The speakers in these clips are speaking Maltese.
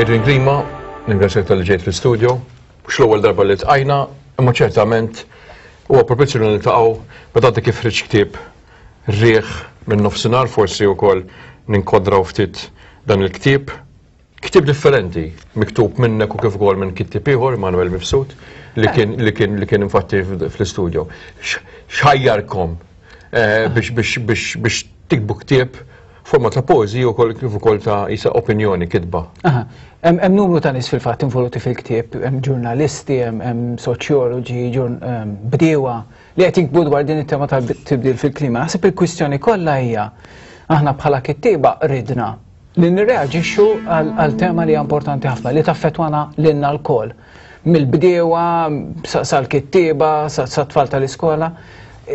Adrian Klima, ningrazzjak talli ġejt fl-istudio. Mhux l-ewwel darba li ltqajna, imma ċertament huwa propizju li niltaqgħu meta inti kif ħriġt ktieb riħ min-nofsinhar forsi wkoll ninkodraw ftit dan il-ktieb. Ktieb differenti, miktub minnek u kif ukoll minn kittib ieħor, Manuel Mifsud, li kien li kien li kien infatti fl-istudjo. X'ħajjarkom eh, biex biex biex biex tikbu ktieb forma ta' pożi u koll kif ukoll ta' isa opinjoni kitba. Aha. Hemm hemm numru ta' nies fil-fatt involuti fil-ktieb, hemm ġurnalisti, hemm hemm soċjoloġi, ġurn- em, bdiewa, li qed jikbu dwar din it-tema tal-tibdil fil-klima. Naħseb il-kwistjoni kollha hija aħna bħala kittieba ridna li nirreaġixxu għal tema li hija importanti ħafna li taffetwana lilna lkoll mill-bdiewa sal-kittieba sat-tfal tal-iskola.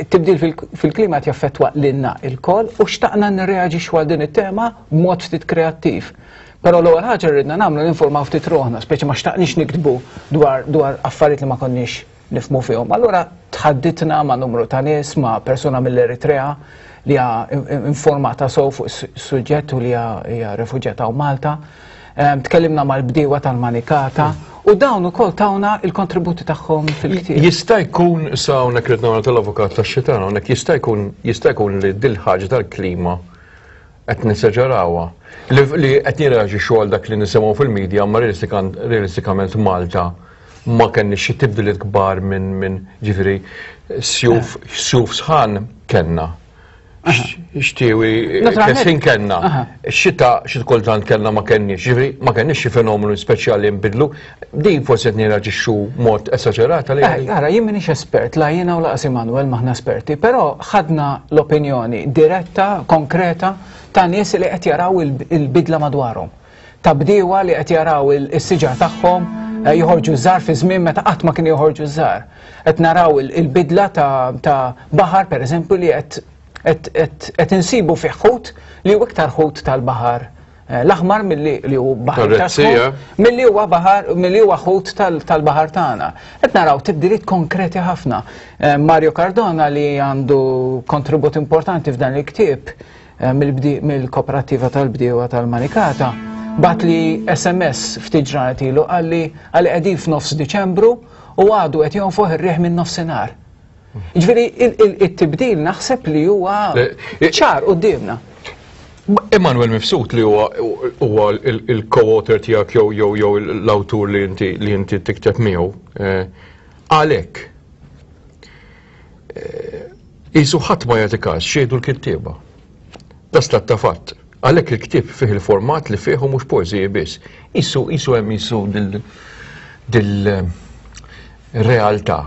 Tibdil fil-klima qed jaffettwa lilna lkoll u xtaqna nirreaġixxu għal din it-tema b'mod ftit kreattiv. Però l-ewwel ħaġa rridna nagħmlu ninformaw ftit roħna, speċi ma xtaqniex niktbu dwar affarijiet li ma konniex nifhmu fihom. Allura tħadditna ma' numru ta' nies, ma' persuna mill-Eritrea li hija informata sew fuq is-suġġett u li hija refuġjata u Malta. Ehm, tkellimna mal-bdiewa tal-Manikata u dawn ukoll tawna il-kontributi tagħhom fil-ktieb. Jista' jkun sa hawnhekk rid nagħmel tal-avukat tax-xitan hawnhekk jista' jkun jista' jkun li dil-ħaġa tal-klima qed nesaġerawha, li qed nirreaġixxu għal dak li nisimgħu fil-media imma realistikament f'Malta ma kenniex xi tibdiliet kbar minn ġifieri sjuf sħan kellna. Xtiewi kesħin kellna. Xita xi kultant kellna ma kenniex, ġifieri ma kenniex xi fenomenu speċjali nbidlu. Din forsi qed nirraġixxu mod esaġerat għalih. Eh, ara, jien m'iniex espert, la jiena u laqas Immanuel maħna esperti, però ħadna l-opinjoni diretta, konkreta ta' nies li qed jaraw il-bidla madwarhom. Ta' bdiewa li qed jaraw is-siġar tagħhom eh, joħorġu żar fi żmien meta qatt ma kien joħorġu żar. Qed naraw il-bidla ta' baħar pereżempju li qed insibu fih ħut li hu iktar ħut tal-baħar Eh, l-aħmar milli li hu baħar ta' milli huwa baħar milli huwa ħut tal-baħar tagħna. Qed naraw tibdiliet konkreti ħafna. Eh, Mario Cardona li għandu kontribut importanti f'dan il-ktieb eh, mill-kooperativa tal-bdiewa tal-Manikata bat li SMS ftit ġranet ilu għalli għalli qegħdin f'nofs Diċembru u għadu qed jonfoħ ir-riħ minn nofsinhar. Ġviri, il-tibdil naħseb li huwa ċar u d-dimna. Emanuel Mifsud li huwa huwa il-co-author tiegħek jew jew jew l-awtur li inti li inti tikteb miegħu. Eh, għalhekk eh, isu ħadd ma jagħti każ xejdu l-kittieba. Das l ta' fatt. Għalhekk il-ktieb fih il-format li fih u mhux poeżiji biss. Isu isu hemm isu dil dil eh, realtà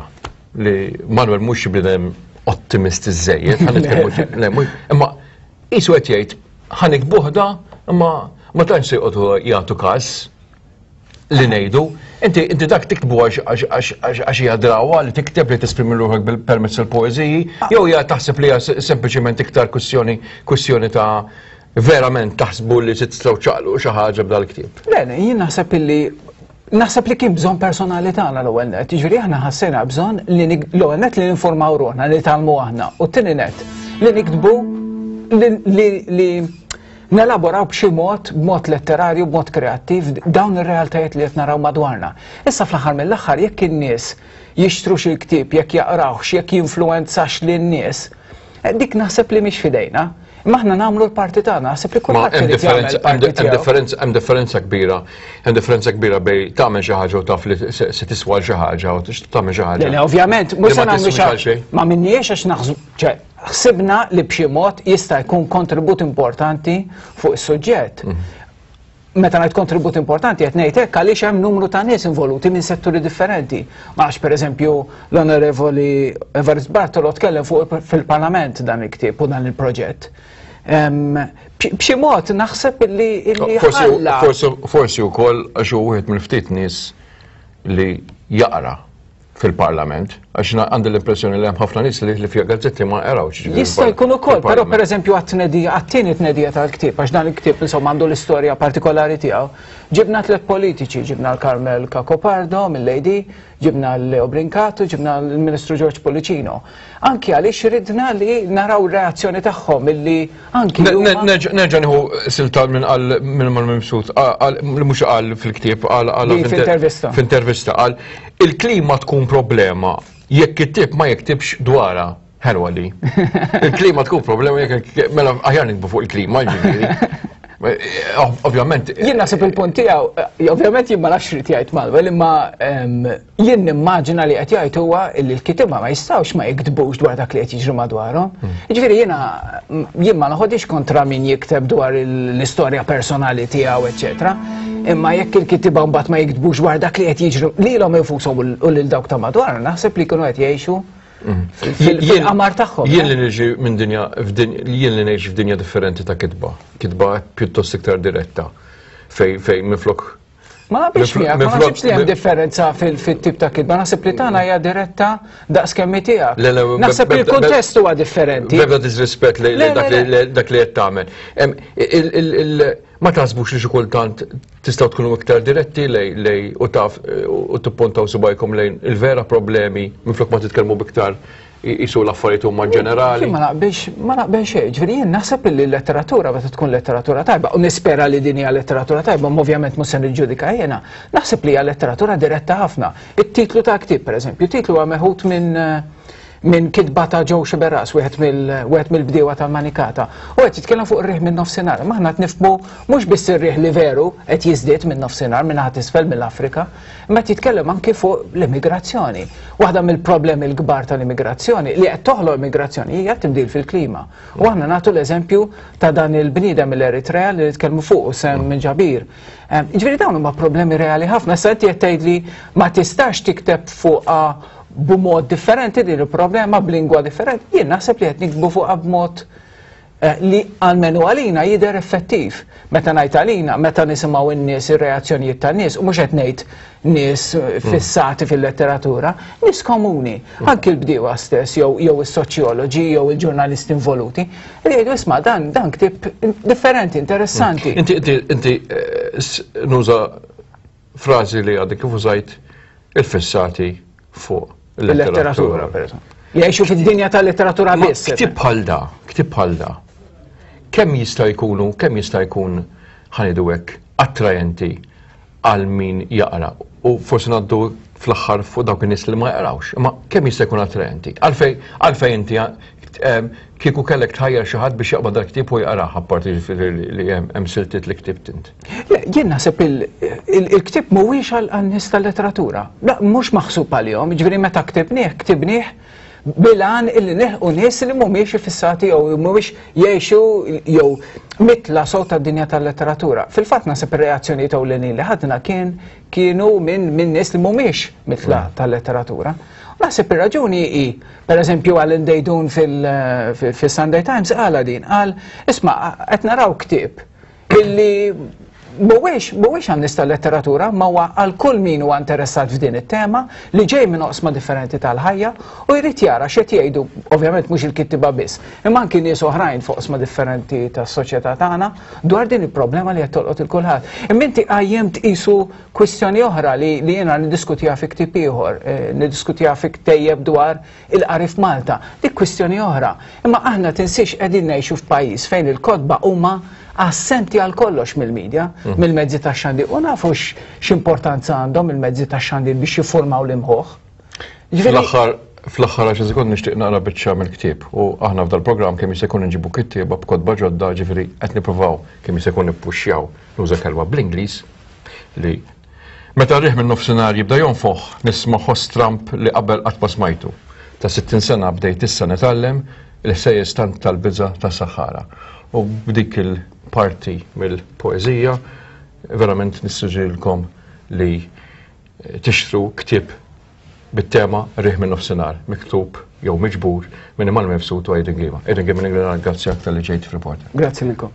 li Manuel mhux bidem ottimisti żejjed, ħan nitkellmu imma qisu qed jgħid ħan ikbuħda imma ma tantx se jqogħdu jagħtu każ li ngħidu, inti inti dak tiktbu għax hija drawa li tikteb li tesprimi ruħek bil-permezz il-poeżiji, jew hija taħseb li hija sempliċement iktar kwistjoni kwistjoni ta' verament taħsbu li se tistgħu ċaqlu xi ħaġa b'dal-ktieb. Le, jien naħseb illi Naħseb li kien bżonn personali tagħna l-ewwel net, jiġifieri aħna ħassejna bżonn li l-ewwel net li ninformaw ruħna li talmu aħna u t-tieni net li niktbu li nelaboraw b'xi mod, b'mod letterarju, b'mod kreattiv dawn ir-realtajiet li qed naraw madwarna. Issa fl-aħħar mill-aħħar jekk in-nies jixtru xi ktieb, jekk jaqrawhx, jekk jinfluwenzax lin-nies, dik naħseb li mhix f'idejna. Imma aħna nagħmlu l-parti tagħna, naħseb li kulħadd irid jagħmel il-parti tiegħu. Hemm differenza kbira, hemm differenza kbira bejn tagħmel xi ħaġa u taf li se tiswa xi ħaġa u tagħmel xi ħaġa. Le, ovvjament, mhux se nagħmlu xi ma minniex għax naħsbu, ċe, ħsibna li b'xi mod jista' jkun kontribut importanti fuq is-suġġett. Mhm. meta ngħid kontribut importanti qed ngħid hekk għaliex hemm numru ta' nies involuti minn setturi differenti. Ma għax pereżempju l-Onorevoli Everest Bartolo tkellem fuq fil-Parlament dan il-ktieb u dan il-proġett. B'xi mod naħseb li ħalla. Forsi wkoll għax hu wieħed mill-ftit nies li jaqra fil-parlament, għax għandi l-impressjoni li hemm ħafna nies li fija gazzetti ma erawx. Jista' jkun ukoll, però pereżempju għat-tnedija, għat-tieni tnedija tal-ktieb, għax dan il-ktieb insomma għandu l-istorja partikolari tiegħu. Ġibna tliet politiċi, ġibna l-Karmel Kakopardo mill-AD, ġibna l-Leo Brinkatu, ġibna l-Ministru George Policino. Anki għaliex ridna li naraw reazzjoni tagħhom illi anki. Nerġa' nieħu silta minn qal minn mal mibsut li mhux qal fil-ktieb qal qal f'intervista. F'intervista qal il-klima tkun problema jekk it-tip ma jiktibx dwarha. Ħelwa li. Il-klima tkun problema jekk mela aħjar nikbu fuq il-klima ġifieri. Ovvjament. Jien naħseb il-punt tiegħu, ovvjament jien ma nafx rid jgħid Malwell, imma Jien nimmaġina li qed jgħid huwa li l-kitiba ma jistgħux ma jiktbux dwar dak li qed jiġri madwarhom. Hmm. Jiġifieri jiena jien ma noħodix kontra min jikteb dwar l-istorja personali tiegħu, eċetera. Imma jekk il-kitiba mbagħad ma jiktbux dwar dak li qed jiġri lilhom infushom u lil dawk ta' madwar, naħseb li kienu qed jgħixu hmm. fil-qamar tagħhom. Jien eh? li niġi minn dinja jien li ngħix f'dinja differenti ta' kitba. Kitba pjuttost iktar diretta fejn minflok Ma naqbilx miegħek, ma naqbilx li hemm differenza fit-tip ta' kidba, naħseb li tagħna hija diretta daqs kemm tiegħek. Naħseb li l-kuntest huwa differenti. Bebda disrispett li dak li qed tagħmel. Ma taħsbux li xi kultant tistgħu tkunu iktar diretti lej u taf u tippuntaw subajkom lejn il-vera problemi minflok ma titkellmu biktar jisu l-affarijiet huma ġenerali. Ma naqbilx, ma naqbilx xejn. Ġifieri jien naħseb li l-letteratura meta tkun letteratura tajba, u nispera li din hija letteratura tajba, ma ovvjament mhux se niġġudika jiena, naħseb li hija letteratura diretta ħafna. It-titlu ta' ktieb pereżempju, titlu huwa meħud minn minn kitba ta' Joe Xiberas, wieħed mill-bdiewa tal-Manikata. U qed jitkellem fuq ir-riħ minn nofsinhar. Maħna qed nifhmu mhux biss ir-riħ li veru qed jiżdied minn nofsinhar minn ħadd isfel mill-Afrika, Imma qed jitkellem anki fuq l-immigrazzjoni. Waħda mill-problemi l-kbar tal-immigrazzjoni li qed toħloq immigrazzjoni hija tibdil fil-klima. U aħna nagħtu l-eżempju ta' dan il-bniedem mill-Eritrea li nitkellmu fuq u sem minn ġabir. Ehm, ġifieri dawn huma problemi reali ħafna. Sa inti qed tgħidli ma tistax tikteb fuqha b'mod differenti din il-problema b'lingwa differenti. Jien naħseb li qed nikbu fuqha b'mod li almenu għalina jidher effettiv. Meta ngħid għalina, meta nisimgħu n-nies ir-reazzjonijiet tan-nies, u mhux qed ngħid nies fissati fil-letteratura, nies komuni, anki l-bdiewa stess jew jew is-soċjoloġi jew il-ġurnalisti involuti, li jgħidu isma' dan dan ktieb differenti, interessanti. Inti inti inti nuża frażi li għadek kif użajt il-fissati fuq il-letteratura. Jgħixu fid-dinja tal-letteratura biss. Ktib bħal da, ktib bħal da. Kemm jista' jkunu, kemm jista' jkun ħanidu hekk attrajenti għal min jaqra u forsi naddu fl-aħħar fuq dawk in-nies li ma jaqrawx, imma kemm jista' jkun attrajenti. Għalfej, għalfej inti ehm, kieku kellek tħajjar xi ħadd biex jaqbad dal-ktieb u jaqrah apparti li hemm siltiet li ktibt int. Le, jien naħseb il-ktib mhuwiex għal-nies tal-letteratura. La, mhux maħsub għalihom, ġifieri meta ktibnieh, ktibnieh bilan illi neħu nies li mhumiex ifissati jew mhumiex jgħixu jew mitla sow tad-dinja tal-letteratura. Fil-fatt naħseb ir-reazzjonijiet ewlenin li ħadna kien kienu minn min nies li mhumiex mitla mm. tal-letteratura. Naħseb ir-raġuni hi, pereżempju għal indejdun fil-Sunday Times għala din, qal isma' qed naraw ktib illi mhuwiex mhuwiex għan-nies tal-letteratura, ma huwa għal kull min huwa interessat f'din it-tema li ġej minn oqsma differenti tal-ħajja u jrid jara x'qed jgħidu, ovvjament mhux il-kittiba biss, imma anki nies oħrajn f'oqsma differenti tas-soċjetà tagħna dwar din il-problema li qed tolqot il kulħadd. Imma inti qajjem tqisu kwistjoni oħra li jiena niddiskutiha fi ktieb ieħor, eh, niddiskutiha fi ktejjeb dwar Il-qari f'Malta, dik kwistjoni oħra, imma aħna tinsiex qegħdin ngħixu f'pajjiż fejn il-kotba huma assenti għal kollox mill-media, mill-mezzi tax-xandir, u nafu x'importanza għandhom il-mezzi tax-xandir biex jiffurmaw l-imħuħ. Fl-aħħar fl-aħħar għaxar sekond nixtieq naqra biċċa mill-ktieb u aħna f'dal programm kemm jista' jkun inġibu kittieba b'kotba ġodda ġifieri qed nippruvaw kemm jista' jkun nippuxxjaw nuża kelma bl-Ingliż li Meta r-riħ min-nofsinhar jibda jonfoħ, nisma' ħoss tramp li qabel qatt ma smajtu. Ta' sittin sena bdejt issa nitgħallem il-ħsejjes tant tal-biża' tas-saħħara. U b'dik il-parti mill-poeżija verament nissuġġerilkom li tixtru ktieb bit-tema Riħ min-Nofsinhar, miktub jew miġbur minn Imgħallem Mifsud u Aidan Ghima. Aidan Ghima nirringrazzjak talli ġejt f'Reporter. Grazzi lilkom.